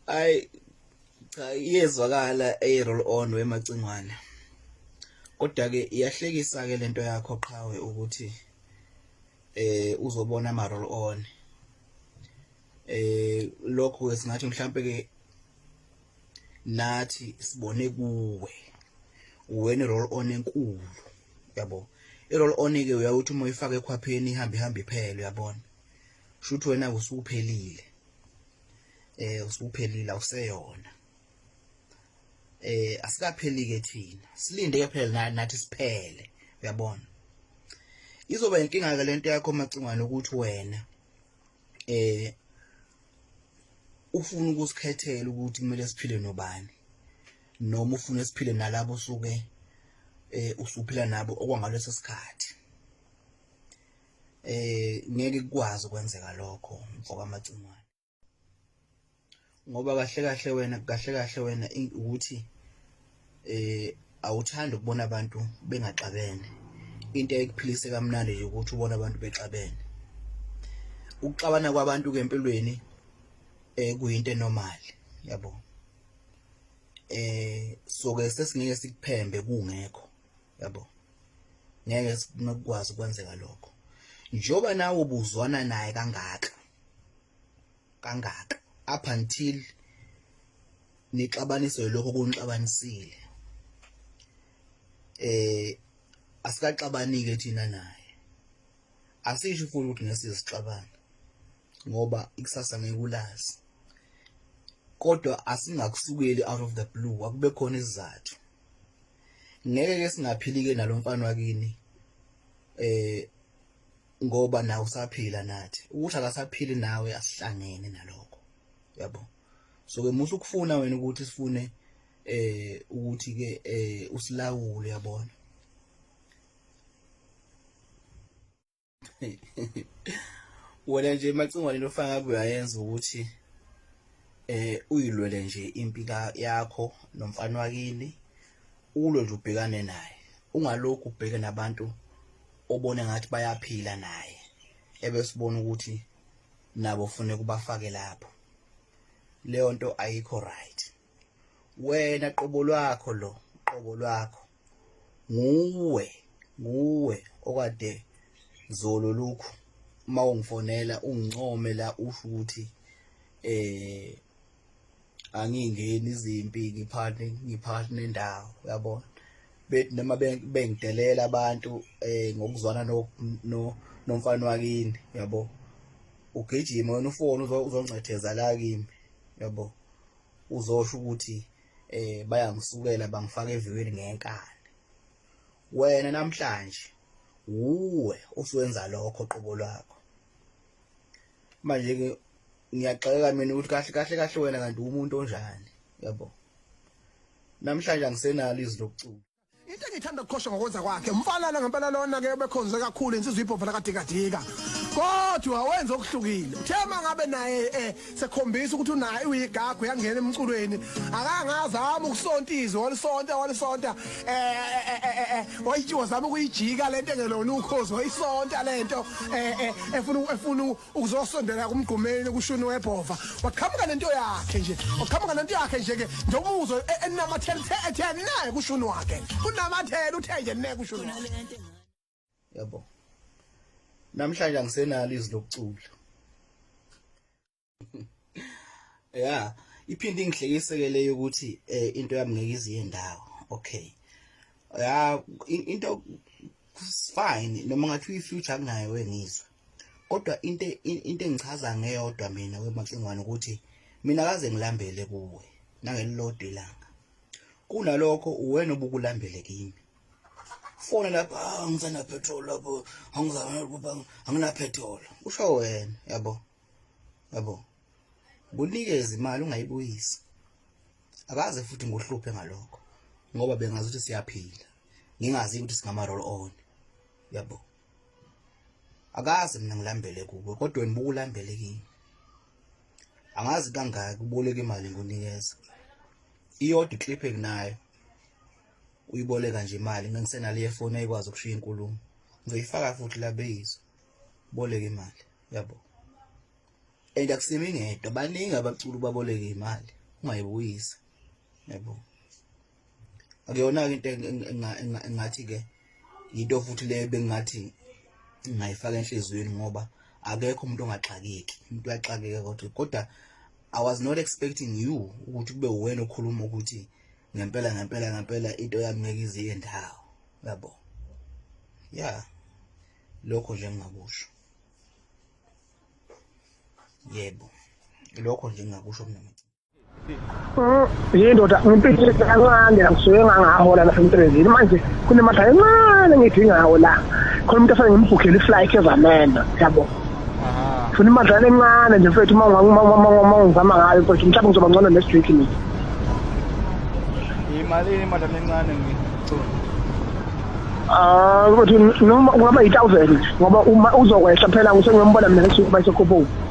ay cha iyezwakala ey roll on wemacingwane kodwa ke iyahlekisa ke lento yakho qhawe ukuthi eh uzobona ama roll on eh lokho ke singathi mhlambe ke nathi sibone kuwe wena roll on enkulu yabo irol onike uyawuthi uma uyifaka ekhwapheni ihambe ihambe iphele uyabona shuthi wena usuphelile eh usuphelile awuseyona eh asikapheli ke thina silinde ke phela nathi siphele uyabona izoba inkinga ke lento yakho macingwane ukuthi wena eh ufuna ukusikhethela ukuthi kumele siphile nobani noma ufune siphile nalabo usuke eh usuphila nabo okwangaleso sikhathi eh ngeke kukwazi ukwenzeka lokho mfoka macingwane ngoba kahle kahle wena kahle kahle wena ukuthi eh awuthandi ukubona abantu bengaxabene into ekuphilise kamnandi nje ukuthi ubona abantu bexabene ukuxabana kwabantu ke empilweni eh kuyinto enormal yabo eh soke sesingeke sikuphembe kungekho yabo ngeke sikwazi ukwenzeka lokho njoba nawe ubuzwana naye kangaka kangaka up until nixabaniswe lokho kunixabanisile eh asikaxabanike thina naye asisho futhi ukuthi ngesizixabana ngoba ikusasa ngeke ulazi kodwa asingakusukeli out of the blue akube khona isizathu ngeke ke singaphilike nalomfana wakini eh ngoba nawe usaphila nathi ukuthi akasaphili nawe asihlangene nalokho yabo so ke muhle ukufuna wena ukuthi sifune eh ukuthi ke eh usilawule yabona wena nje macingwane lofaka kuyayenza ukuthi eh uyilwele nje impi yakho nomfana wakini ulo nje ubhekane naye ungalokhu ubheke nabantu obone ngathi bayaphila naye ebesibona ukuthi nabo ufune kubafake lapho leyo nto ayikho right wena qobo lwakho lo qobo lwakho nguwe nguwe okade zolo lokhu uma ungifonela ungincome la usho ukuthi eh angingeni izimpi ngiphane ngiphane nendawo uyabona bethi noma bengidelela abantu eh ngokuzwana no nomfana wakini yabo ugijima wena ufone uzoncetheza la kimi yabo uzosho ukuthi eh bayangisukela bangifaka eviweni ngenkani wena namhlanje wuwe usuwenza lokho qobo lwakho manje ke ngiyaxeka mina ukuthi kahle kahle kahle wena kanti umuntu onjani yabo namhlanje angisenalo izwi lokucula into engithanda ukukhosha ngokwenza kwakhe umfana ngempela lona ke bekhonze kakhulu insizwa ibhova lakadikadika kodwa wenza okuhlukile uthe uma ngabe naye eh sekhombisa ukuthi unaye uyigagu yangena emculweni akangazama ukusonta izwi walisonta walisonta eh, eh, eh, eh wazama ukuyijika lento engelona ukhozi wayisonta lento eh efuna efuna ukuzosondela kumgqumeni kushuni webhova waqhamuka nento yakhe nje waqhamuka nento yakhe nje ke njengomuzo e- enamathela uthe ethe naye kushuni wakhe unamathela uthe nje naye kushuni wakhe yabo namhlanje angisenalo izwi lokucula ya iphinde ingihlekiseke leyo ukuthi eh, into yami ngeke iziye ndawo okay ya in- into fine noma ngathi uyi-future akunayo engizwa kodwa into into engichaza ngeyodwa mina wemacingwane ukuthi mina kaze ngilambele kuwe nangelilodwa ilanga kunalokho uwena obukulambele kimi fona lapha ah, ngisana petrol lapho angina petrol usho wena yabo yabo bunikeze imali ungayibuyisi akaze futhi ngohluphe ngalokho ngoba bengazi ukuthi siyaphila ngingazi ukuthi singama roll on yabo akazi mina ngilambele kuwe kodwa wena bukulambele kimi angazi kangaki uboleka imali ngonikeza iyodwa iclip enginayo uyiboleka nje imali ngengisenale yefoni ayikwazi ukushiya inkulumo ngizoyifaka futhi labeyizwa boleka imali yabo and akusimi ngedwa baningi abaculi baboleka imali ungayibuyisa yabo akuyona-ke into engathi ke yinto futhi le bengathi ngingayifaka enhliziyweni ngoba akekho umuntu ongaxakeki umuntu uyaxakeka kodwa kodwa i was not expecting you ukuthi kube wena okhuluma ukuthi ngempela ngempela ngempela into yami ngeke iziye ndawo yabo ya lokho nje ngingakusho yebo lokho nje ngingakusho mina yindoda ngimpilile kancane ngisuke ngangahola la emsebenzini manje kunemadla encane ngidingawo la khona umuntu afane ngimbhukhele iflight ezamena yabo funa imadlana encane nje mfethu uma ngizama ngayo mfethu mhlawumbe ngizoba ngcono ne-street mina yimalini imadlana encane Ah, ukuthi noma kungaba yi-1000 ngoba uma uzokwehla phela ngisengiyombona mina ngesuku bayisekhuphuka.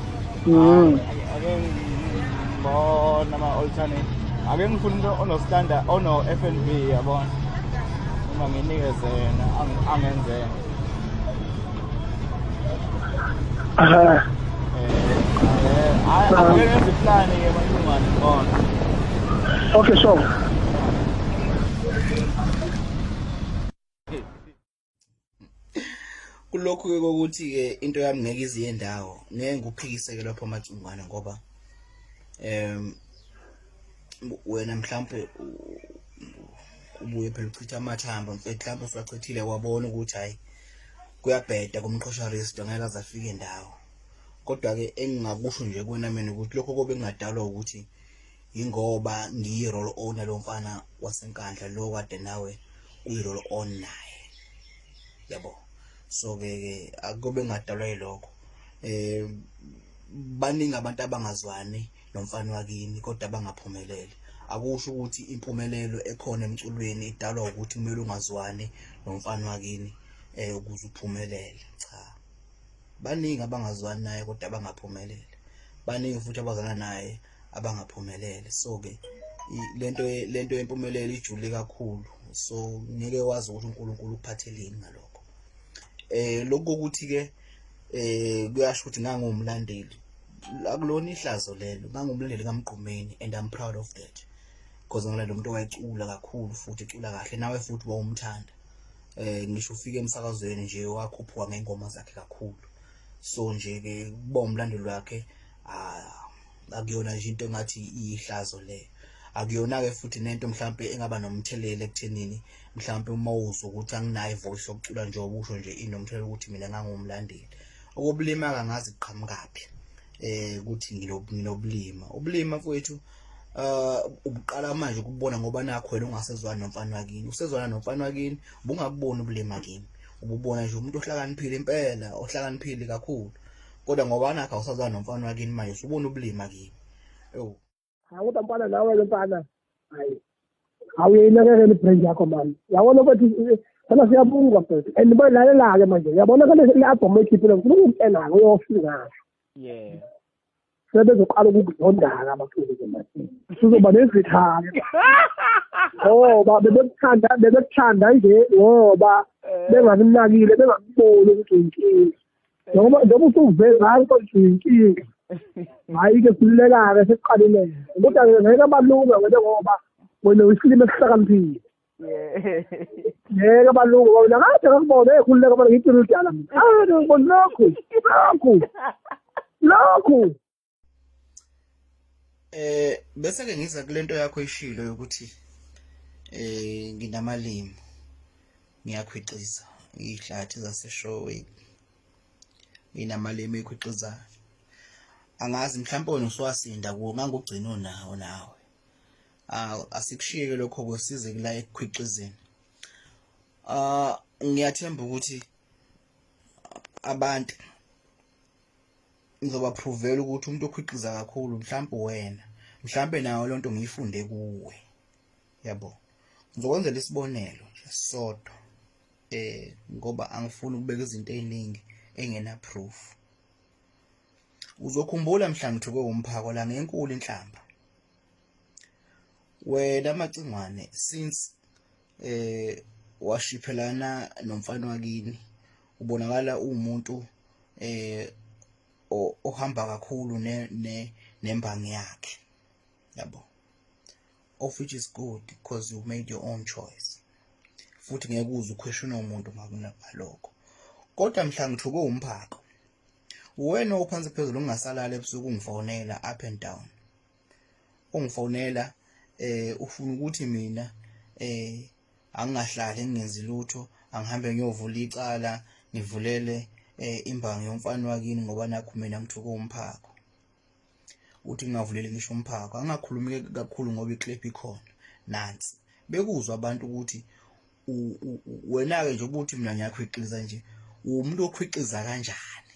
ake ngibona ama alternate ake ngifuna umuntu ono standard ono FNB yabona uma nginikeze yena angenzeka eh eh ake ngenze iplan ke manje ngibona okay so kulokhu ke kokuthi ke into yami ngeke iziye ndawo ngeke ngiphikiseke lapho amacingwana ngoba em wena mhlambe ubuye phela uchitha amathamba mhlawumbe usachithile wabona ukuthi hayi kuyabheda kumqhosha resto ngeke azafike ndawo kodwa ke engingakusho nje kuwena mina ukuthi lokho kobe kungadalwa ukuthi yingoba ngiyi roll on lo mfana wasenkandla lo kade nawe uyi roll on naye yabo so ke ke akube ngadalwa yilokho eh baningi abantu abangazwani nomfana wakini kodwa bangaphumeleli akusho ukuthi impumelelo ekhona emculweni idalwa ukuthi kumele ungazwani nomfana wakini eh ukuze uphumelele cha baningi abangazwani naye kodwa bangaphumelele baningi futhi abazana naye abangaphumelele so ke lento lento yempumelelo ijule kakhulu so ngeke wazi ukuthi uNkulunkulu ukuphatheleni ngalokho eh lokho ukuthi ke eh kuyasho ukuthi ngangumlandeli akulona ihlazo lelo ngangumlandeli kaMgqumeni and I'm proud of that because ngala lo muntu wayecula kakhulu futhi ecula kahle nawe futhi wawumthanda eh ngisho ufike emsakazweni nje wakhuphuka ngengoma zakhe kakhulu so nje ke kuba umlandeli wakhe ah akuyona nje into engathi iyihlazo le akuyona ke futhi nento mhlawumbe engaba nomthelela ekuthenini mhlawumbe uma uzwa ukuthi anginayo ivoice yokucula nje obusho nje inomthelela ukuthi mina ngangumlandeli okobulima kangazi qhamukaphi eh ukuthi nginobulima ubulima kwethu uh ubuqala manje ukubona ngoba nakho wena ungasezwana nomfana wakini usezwana nomfana wakini ubungabuboni ubulima kimi ububona nje umuntu ohlakaniphile impela ohlakaniphile kakhulu kodwa ngoba nakho awusazana nomfana wakini manje usubona ubulima kini ewu hayi kodwa mfana nawe ke mfana hayi awuyinakekela ibrand yakho mani yabona ukuthi sana siyabunga mfethu and bayidlalela-ke manje uyabona kale le-albhamu oyikhiphile ngifuna ukukutshela-ke uyofika ngayo yeah sebezoqala ukukuzondaka abaculi zembatini sizoba nezithake ngoba bebekuthanda bebekuthanda nje ngoba eh. bengakunakile bengakuboni ukuthi uyinkinga noma noma usuvele ngayo kodwa inkinga hayi ke silulekake sekuqalileke kodwa ke ngeke abalunga wena ngoba wena uyisilima esihlakaniphile ngeke abalunga ngoba wena kade ngakubona ekhululeka abantu ngithi uludala mina ah ngibona lokhu lokhu lokhu eh bese ke ngiza kulento yakho ishilo yokuthi eh nginamalimi ngiyakhwiciza ihlathi zaseshowe nginamalimi ekhwixizayo angazi mhlawumbe wena usuwasinda kuwo ngangugcina unawo nawe ah, asikushiyeke lokho kusize kula ekukhwixizeni ah ngiyathemba ukuthi abantu ngizoba provela ukuthi umuntu okhiqiza kakhulu mhlawumbe wena mhlawumbe nayo lento ngiyifunde kuwe yabo ngizokwenzela isibonelo nje sodwa eh ngoba angifuni ukubeka izinto eziningi engena proof uzokhumbula mhlawumbe uthukwe umphako la ngenkulu inhlamba wena macingwane since eh washiphelana nomfana wakini ubonakala umuntu eh ohamba kakhulu ne nembangi yakhe yabo of which is good because you made your own choice futhi ngeke uze ukhweshona umuntu ngakunalokho kodwa mhla ngithukwe umphako uwena ophansi phezulu ungasalala ebusuku ungifonela up and down ongifonela eh ufuna ukuthi mina eh angingahlali ngingenzi lutho angihambe ngiyovula icala ngivulele eh imbangi yomfana wakini ngoba nakho mina ngithuka umphako uthi ngingavuleli ngisho umphako angakhulumi kakhulu ngoba iclip ikhona nansi bekuzwa abantu ukuthi wena-ke nje ukuthi mina ngiyakhwiqiza nje uwumuntu okhwiqiza kanjani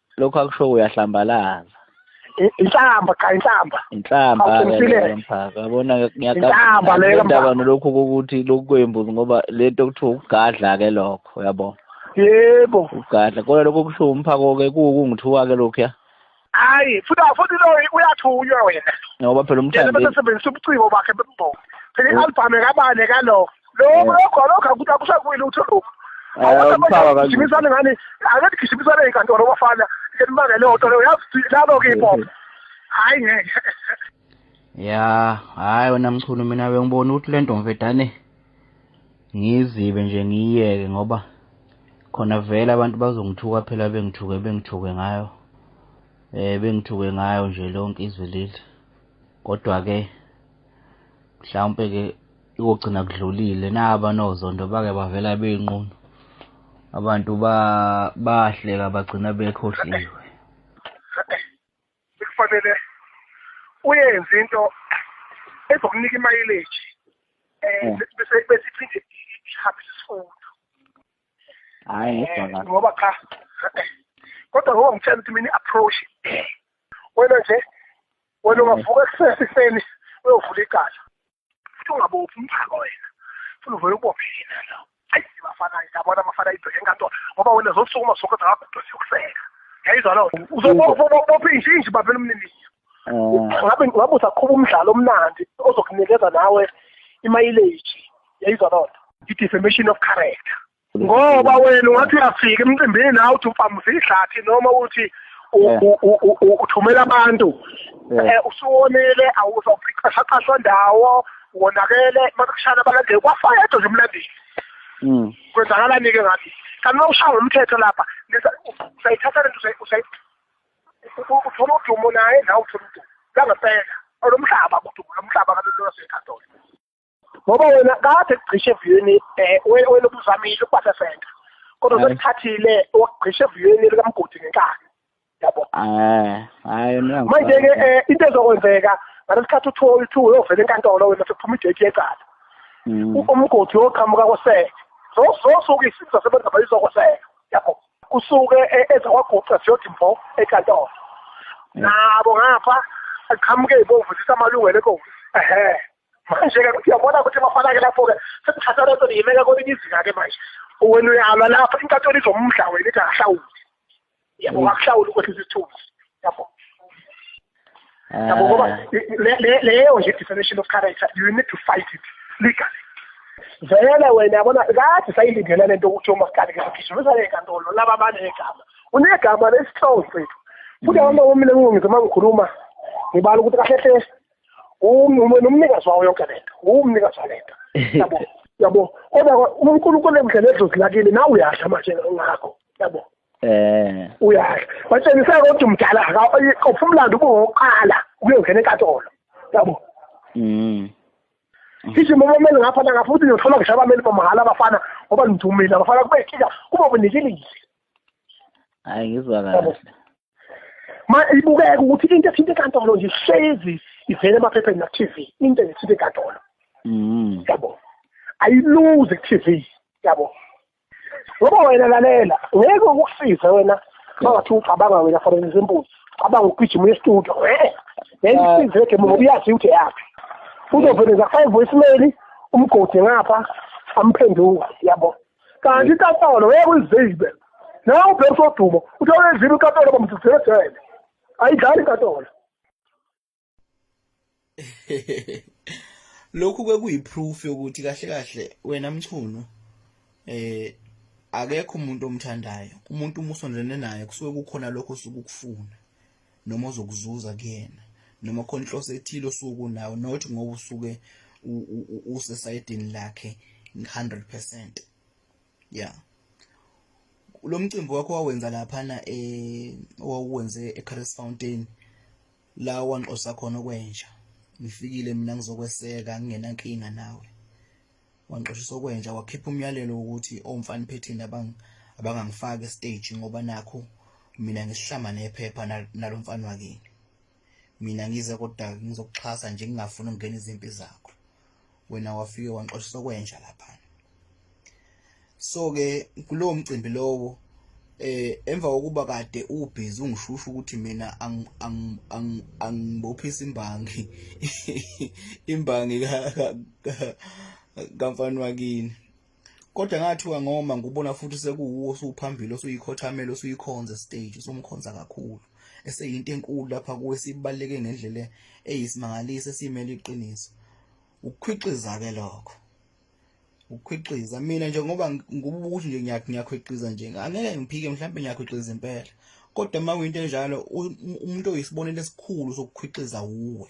lokho akusho uyahlambalaza inhlamba cha inhlamba inhlamba mphaka yabona ngiyakaba leyo ndaba nolokhu ukuthi lokhu kwembuzi ngoba lento kuthiwa ukugadla ke lokho yabo yebo ukugadla kodwa lokho kusho umphako ke kungithiwa ke lokhu ya hayi futhi futhi lo uyathunywa wena ngoba phela umthandi bese sebenzisa ubuciko bakhe bembongo phela i-album ekabane kalo lokho lokho lokho akuthi akushakuyi lutho lokho awusabagijimisane ngani ake tigijimisane enkantolo bafana elimanga leyo nto leyo yazi labo-ke ipopo hhayi ngeke ya hhayi wena mchunu mina bengibona ukuthi le ntomvedane ngizibe nje ngiyiyeke ngoba khona vele abantu bazongithuka phela bengithuke bengithuke ngayo eh bengithuke ngayo nje lonke izwe leli kodwa ke mhlawumbe ke ikugcina kudlulile naba nozondo bake bavela beyinqunu abantu bahleka bagcina bekhohliwe sikufanele uyenze into ezokunika imayileji um hmm. bese iphinde ihambise isifundo hayi eh, ngoba cha kodwa ngoba ngitshela ukuthi mina i-approach wena nje wena ungavuka ekusesifeni uyovula icala futhi ungabophi umphako wena funa uvele ubophe yena lo ayi bafana yabona abafana ibheke enkantolo ngoba wena zosukuma sonke zakagudwa siyokuseka yayizwa loo nto uzobopha inje inje babela umniniyo eh. ngabe ngabe usaqhuba umdlalo omnandi ozokunikeza nawe imayileji yayizwa loo nto i-defamation of character ngoba wena ungathi uyafika emcimbini nawe uthi uphamusa idlathi noma uthi uthumela abantu eh, usuwonile awuzophiqashaqashwa ndawo wonakele makushana abalandeli kwafayedwa nje umlandeli hmm. kwenzakalani-ke ngathi kanti uma ushaya ngomthetho lapha usayithatha lento uthola udumo naye nawe uthola udumo langempela olomhlaba kudumo lomhlaba kabelolaseyikhathola ngoba wena kade kugqishe eviyweni eh, wena wena ubuzamile ukubasa center kodwa Aye. sekuthathile wakugqishe eviyweni likamgodi ngenkani yabo Eh, hayi mina manje ke ngifuna- eh, into ezokwenzeka ngalesikhathi uthiwa uthiwa uyovela enkantolo wena sekuphuma idate yecala Mm. u- umgodi woqhamuka koseke zozosuke isizwe sasebenza bayizokoseka yabo kusuke e- ezakwaguqa ziyodi mvo enkantolo nabo ngapha aqhamuke ibomvu zithi amalungelo enkosi ehe manje-ke ukuthi uyabona ukuthi bafana-ke lapho-ke sekuthatha lento niyimeka kwelinye izinga-ke manje wena uyalwa lapho inkantolo izomudla wena ithi akahlawuli yabo mm. akahlawuli ukwehlisa isithunzi yabo ah. yabo ngoba leyo nje definition of character you need to fight it legally vele wena yabona kade sayilindele lento ukuthi umasikali ngizogijimisa le nkantolo laba banegama unegama lesihlongo sethu futhi mm. abantu omile kungize uma ngikhuluma ngibala ukuthi kahle hle umnikazi wawo yonke lento umnikazi walento yabo yabo kodwa uNkulunkulu ekudlela edlozi lakini nawe uyasha manje ngakho yabo eh uyasha watshengisa ukuthi umdala akawuphi umlando ubuwoqala ukuyongena enkatolo yabo mhm sisho uma umele ngapha la ngapha uthi ngiyothola ngisho abameli bamahhala abafana ngoba ngidumile abafana kube kika kube unikilile hayi ngizwa kahle ma ibukeka ukuthi into ethinta enkantolo nje hlezi ivele emaphepheni naku-tv into ethinta enkantolo mm. yabo ayiluze ku-tv yabo ngoba wena lalela ngeke ukusize wena mangathi ucabanga wena for example cabanga ukugijima uye estudio eh, ngeke ah. isize le gemu ngoba uyazi ukuthi yaphi uzovele zakufaka ivoicemail umgodi ngapha amphenduka yabo kanti inkantolo ngeke uyizibe nawe ubheka usodumo uthi awuyizibe inkantolo bamdudela ejele ayidlali inkantolo lokhu ke kuyiproof yokuthi kahle kahle wena mchunu eh akekho umuntu omthandayo umuntu umusondene naye kusuke kukhona lokho sukufuna noma ozokuzuza kuyena noma khona inhloso ethile osuku nawo not ngoba usuke usesayidini lakhe 100% yeah lo mcimbi wakho wawenza laphana eh owuwenze eCaris Fountain la wanqosa khona okwenja ngifikile mina ngizokweseka ngingenankinga nawe wangixoshisa okwenja wakhipha umyalelo wokuthi omfana phethini abangangifaki estage ngoba nakho mina ngisihlama nephepha nalo mfana wakini mina ngize kodwa ngizokuxhasa nje ngingafuni ukungena izimpi zakho wena wafike wangixoshisa okwenja lapha so ke kulowo mcimbi lowo eh emva kokuba kade ubhizi ungishusha ukuthi mina angibophisa imbangi imbangi kamfana wakini kodwa ngathiwa ngoma ngubona futhi sekuwuwo usuphambili osuyikhothamela osuyikhonza stage usumkhonza kakhulu eseyinto enkulu lapha kuwe sibaleke ngendlela eyisimangaliso esimele iqiniso ukukhwixiza ke lokho ukukhwiqiza mina nje ngoba ngibuka ukuthi nje ngiyakhwiqiza nje angeke ngiphike mhlawumbe ngiyakhwiqiza impela kodwa uma kuyinto enjalo umuntu oyisibonelo esikhulu sokukhwiqiza wuwe